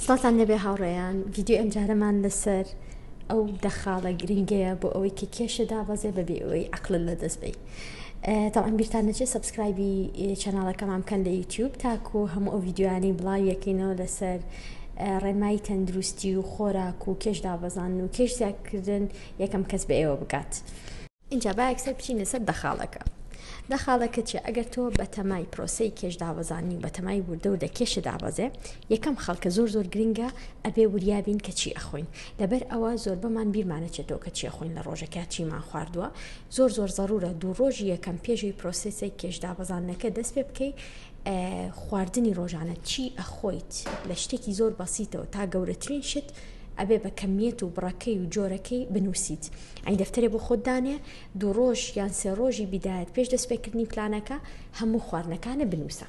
سڵاتان لەبێ هاوڕێیان ڤیددیو ئەمجارەمان لەسەر ئەو دەخاڵە گرنگەیە بۆ ئەوەی کە کێشە دابەزێ بەبێ ئەوەی عقلل لە دەست بی تاوان بیرتان نەچێ سبسکرایبی چەناڵەکەمان بکەن لە یوتیوب تاکو هەموو ئەو ڤیددیوانی بڵاویەکەینەوە لەسەر ڕێنمایی تەندروستی و خۆراک و کێش دابەزان و کێش زیادکردن یەکەم کەس بە ئێوە بگات. ئینجا با یەکسەر بچینە سەر دەخاڵەکە دەخاڵەکە چیە ئەگەر تۆ بەتەمای پرۆسی کێش دابەزانی و بەتەمای وردە و دەکێشە دابەزێ یەکەم خەڵکە زۆر زۆر گرنگە ئەبێ وریابین کە چی ئەخۆین لەبەر ئەوە زۆر بەمان بیرمانەچێتەوە کە چیە خۆین لە ڕۆژەکە چیمان خواردووە زۆر زۆر ضرورە دوو ڕۆژی یەکەم پێشوی پرۆسسی کێش دابەزانەکە دەست پێ بکەیت خواردنی ڕۆژانە چی ئەخۆیت لە شتێکی زۆر بەسیتەوە تا گەورەترین شت ئەبێ بە کەمیت و بڕەکەی و جۆرەکەی بنووسیت یانی دەفتەرێ بۆ خۆت دانێ، دوو ڕۆژ یان سێ ڕۆژی بیدایەت پێش دەستپێکردنی پلانەکە هەموو خواردنەکانت بنووسە.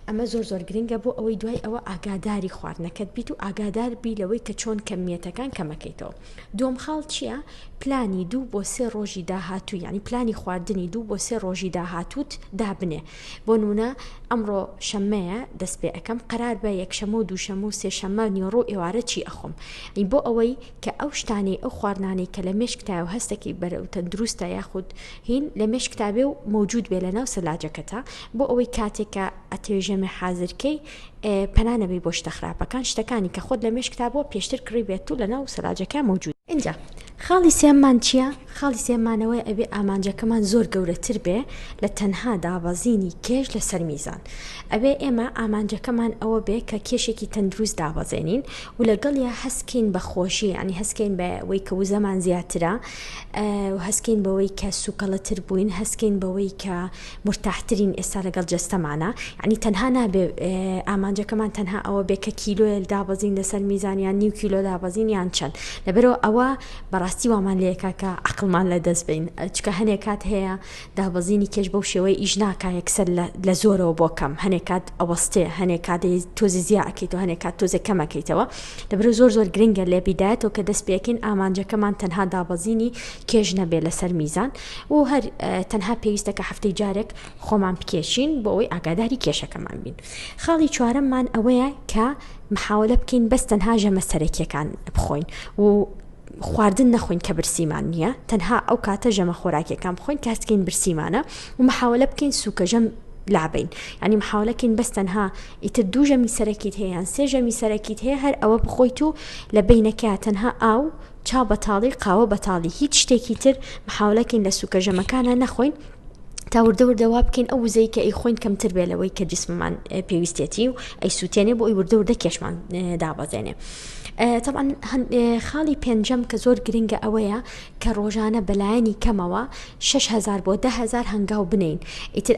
ئەمە زۆر زۆر گرنگە بۆ ئەوەی دوای ئەوە ئاگاداری خواردنەکەت بیت و ئاگادار بی لەوەی کە چۆن کەمییەتەکان کەمەکەیتەوە. دووەم خاڵ چییە؟ پلانی دوو بۆ سێ ڕۆژی داهاتوو یانی پلانی خواردنی دوو بۆ سێ ڕۆژی داهاتووت دابنێ. بۆ نموونە ئەمڕۆ شەممەیە دەست پێ ئەکەم قەرار بە یەکشەممە و دووشەممە و سێشەممە نیوەڕۆ و ئێوارە چی ئەخۆم؟ یانی بۆ ئەوەی کە ئەو شتانەی ئەو خواردنانەی کە لە مێشکتایە و هەستەکەی بەرەو تەندروستە یاخود هین لە مێشکتا بێ و مەوجود بێ لە ناو سەلاجەکەتا بۆ ئەوەی کاتێک کە ئەتەوێ ژەمێ حازر کەی پەنا نەبەی بۆ شتە خراپەکان شتەکانی کە خۆت لە مێشکتا بووە پێشتر کڕی بێت و لە ناو سەلاجەکە مەوجود ئینجا خاڵی سێەممان چییە؟ خاڵی سێەممان ئەوەیە ئەبێ ئامانجەکەمان زۆر گەورەتر بێ لە تەنها دابەزینی کێش لەسەر میزان ئەبێ ئێمە ئامانجەکەمان ئەوە بێ کە کێشێکی تەندروست دابەزێنین و لەگەڵیا هەست کەین بە خۆشی یانی هەست کەین بە وەی کە وزەمان زیاترە و هەست کەین بەوەی کە سوکەڵە تر بووین هەست کەین بەوەی کە مورتاح ترین ئێستا لەگەڵ جەستەمانا یانی تەنها نابێ ئامانجەکەمان تەنها ئەوە بێ کە کیلۆیەل دابەزین لەسەر میزان یان نیو کیلۆ دابەزین یان چەند لەبەرەوە ئەوە بەڕاستی وامان لێکا کە عەقڵمان لە دەست بەین چکە هەنێ کات هەیە دابەزینی کێش بەو شێوەیە ئیش ناکا یەکسەر لە زۆرەوە بۆ کەم هەنێ کات ئەوەستێ هەنێ کات تۆزێ زیا ئەکەیتەوە هەنێ کات تۆزێ کەمەکەیتەوە لەبرو زۆر زۆر گرنگە لە بیدایەتەوە کە دەست پێکەین ئامانجەکەمان تەنها دابەزینی کێش نەبێ لەسەر میزان و هەر تەنها پێویستە کە هەفتەی جارێک خۆمان بکێشین بۆ ئەوەی ئاگاداری کێشەکەمان بین خاڵی چوارەممان ئەوەیە کە محاولە بکەین بەس تەنها ژەمە سەرەکیەکان بخۆین و خواردن نەخۆین کە برسیمان نییە تەنها ئەو کاتە ژەمە خۆراکیەکان بخۆین کاتکەین برسیمانە و مححاولە بکەین سوکەژەم لابین ینی مححاولەکەین بەس تەنها ئیتر دوو ژەمی سەرەکیت هەیەیان سێ ژەمی سەرەکیت هەیە هەر ئەوە بخۆیت و لە بینەکە تەنها ئاو چا بەتاڵی قاوە بەتاڵی هیچ شتێکی تر مححاولەکەین لە سوکەژەمەکانە نەخۆین تا وردە وردە وا بکەین ئەو وزەی کە ئیخۆین کەمتر بێ لەوەی کە جسممان پێویستێتی و ئەی سووتێنێ بۆ ئەی وردە وردە کێشمان دابەزێنێ. طبعا خاڵی پێنجەم کە زۆر گرنگە ئەوەیە کە ڕۆژانە بەلایەنی کەمەوە 6هزار بۆ دههزار هەنگاو بنین ئیتر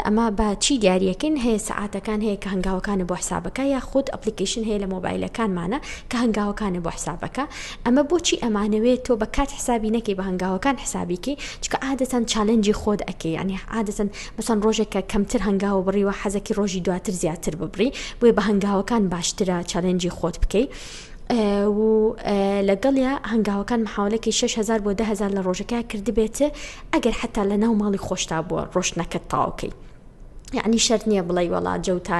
ئەمە بە چی دیارەکەین هەیە سعاتەکان هەیە کە هەنگاوەکانە بۆ حسابەکە یا خودت ئەپلیکیشن هەیە لە مۆبایلەکانمانە کە هەنگاوەکانە بۆ حسابەکە ئەمە بۆچی ئەمانەوێ تۆ بە کات حسابی نەکەی بە هەنگاوەکان حسابی کەی چکە عادەتەن چالنجی خۆت ئەکەی یعنی عادەتەن مەسەن ڕۆژێک کە کەمتر هەنگاوە بڕیوە حەزەکی ڕۆژی دواتر زیاتر ببڕی بۆیە بە هەنگاوەکان باشترە چالنجی خۆت بکەی و لەگەڵیا هەنگاوەکان محاولەکی 6هزار بۆ دههزار لە ڕۆژەکە کردبێت ئەگەر حتا لە ناو ماڵی خۆشتا بووە ڕۆشتنەکەت تاوکەی یعنی شەرت نییە بڵێ وەڵا جەو تا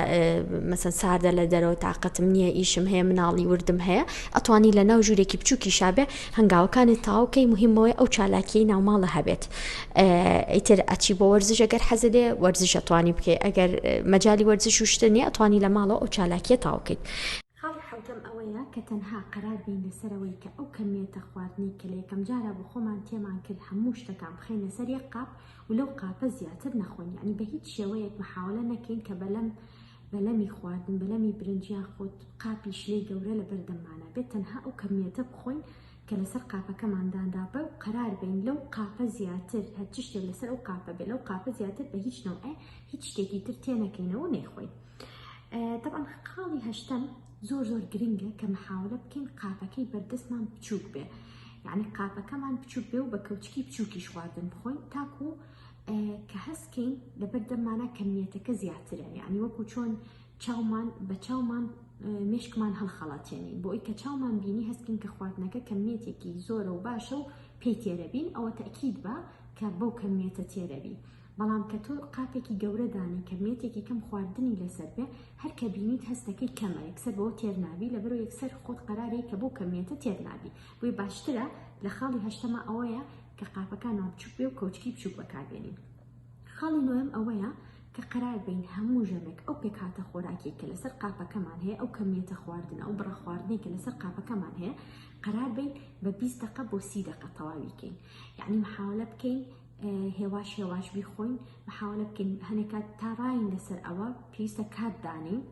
مەسەن ساردە لە دەرەوە تااقەتم نییە ئیشم هەیە مناڵی وردم هەیە ئەتوانی لە ناو ژوورێکی بچووکی شابێ هەنگاوەکانی تاوکەی مهمەوەی ئەو چالاکیی ناوماڵە هەبێت ئیتر ئەچی بۆ وەرزش ئەگەر حەزێ وەرزش ئەتوانی بکەیت ئەگەر مەجای وەرزش شتە نیە ئەتوانی لە ماڵەوە ئەو چالاکیە تاوکەیت حوتم ئەوەیە کە تەنها قەرار بین لەسەرەوەی کە ئەو کەمیێتە خواردنی کە لە یەکەم جارە بۆ خۆمان تێمان کرد هەموو شتەکان بخینە سەر یەک قاپ و لەو قاپە زیاتر نەخۆن یانی بە هیچ شێوەیەک محاولە نەکەین کە بەلەم بەلەمی خواردن بەلەمی برنج یان خود قاپی شلەی گەورە لە بەردەممانە بێت تەنها ئەو کەمیەتە بخۆین کە لەسەر قاپەکەمان دانرابێ و قەرار بین لەو قاپە زیاتر هەر چ شتێک لەسەر ئەو قاپە بێ لەو قاپە زیاتر بە هیچ نەوعێ هیچ شتێکی تر تێنەکەینەوە نەیخۆین طبعا خاڵی هەشتەم زۆر زۆر گرنگە کە محاولە بکەین قاپەکەی بەردەستمان بچووک بێ یعنی قاپەکەمان بچووک بێ و بە کەوچکی بچووکیش خواردن بخۆین تاکو کە هەستکەین لەبەر دەممانە کەمیەتەکە زیاترە یعنی وەکو چۆن چاومان بە چاومان مشکمان هەڵخەڵاتێنین بۆ ئەوی کە چاومان بینی هەستکین کە خواردنەکە کەمیەتێکی زۆرە و باشە و پێی تێرەبین ئەوە تاکیید بە کە بەو کەمیەتە تێرەبی بەڵام کە تۆ قاپێکی گەورە دانێ کە مێتێکی کەم خواردنی لەسەر بێ هەر کە بینیت هەستەکەی کەمە یەکسەر بەوە تێرنابی لە بەرو یەکسەر خۆت قەرارەیە کە بۆ کەمیەتە تێرنابی بۆی باشترە لە خاڵی هەشتەما ئەوەیە کە قاپەکانەوە بچوک بێ و کەوچکی بچوک بەکاربێنین خاڵی نوێم ئەوەیە کە قرار بین هەموو ژەمێک ئەو پێکاتە خۆراکی کە لەسەر قاپەکەمان هەیە ئەو کەمیەتە خواردن ئەو بڕە خواردنی کە لەسەر قاپەکەمان هەیە قرار بین بە 20 دقە بۆ سی دقە تەواویکەین یعنی محاولە بکەین هێواش هێواش بیخۆین محاولە بکەین هەنێکات تا ڕاین لەسەر ئەوە پێویستە کات دانین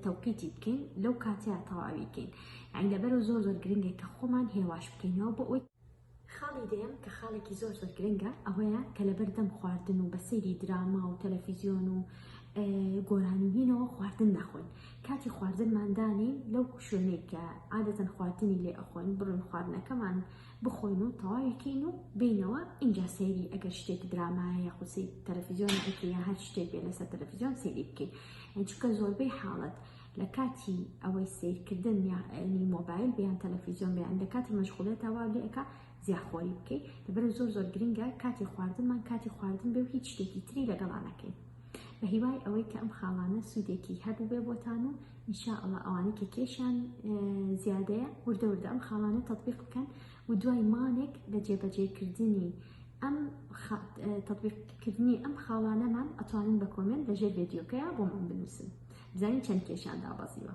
تەوقیتی بکەین لەو کاتەیە تەواوی بکەین ئەین لەبەرو زۆر زۆر گرنگە کە خۆمان هێواش بکەینەوە بۆ ئەوی خاڵی دەیەم کە خاڵێکی زۆر زۆر گرنگە ئەوەیە کە لەبەر دەم خواردن و بە سەیری دراما و تەلەفیزیۆن و گۆرانیینەوە خواردن نەخۆن کاتی خواردنماندانی لەو شوێنێک کە عادەتەن خواردنی لێ ئەخۆن بڕن خواردنەکەمان بخۆین و تەواوی کەین و بینەوە ئینجا سەیری ئەگەر شتێک درامایە یاخوسی تەلەفیزیۆن ئەکەی یا هەر شتێک بێ لەسەر تەلەفیزیۆن سەیری بکەین یان چونکە زۆربەی حاڵەت لە کاتی ئەوەی سیرکردن یاعنی مۆبایل بیان تەلەفیزیۆن بیان لە کاتی مەشغولێتەوە لێکە زیاخۆری بکەیت دەبەر زۆر زۆر گرنگە کاتی خواردنمان کاتی خواردن بێ و هیچ شتێکی تری لەگەڵانەکەین بە هیوای ئەوەی کە ئەم خاڵانە سوودێکی هەبووبێ بۆتان و ان شاء اللە ئەوانەی کە کێشیان زیادەیە وردە وردە ئەم خاڵانە تطبیق بکەن و دوای مانێک لە جێبەجێکردنی ئەم تطبیقکردنی ئەم خاڵانەمان ئەتوانن بە کۆمنت لەژێر ڤێدیۆکەیە بۆمان بنووسن بزانین چەند کێشیان دابەزیوە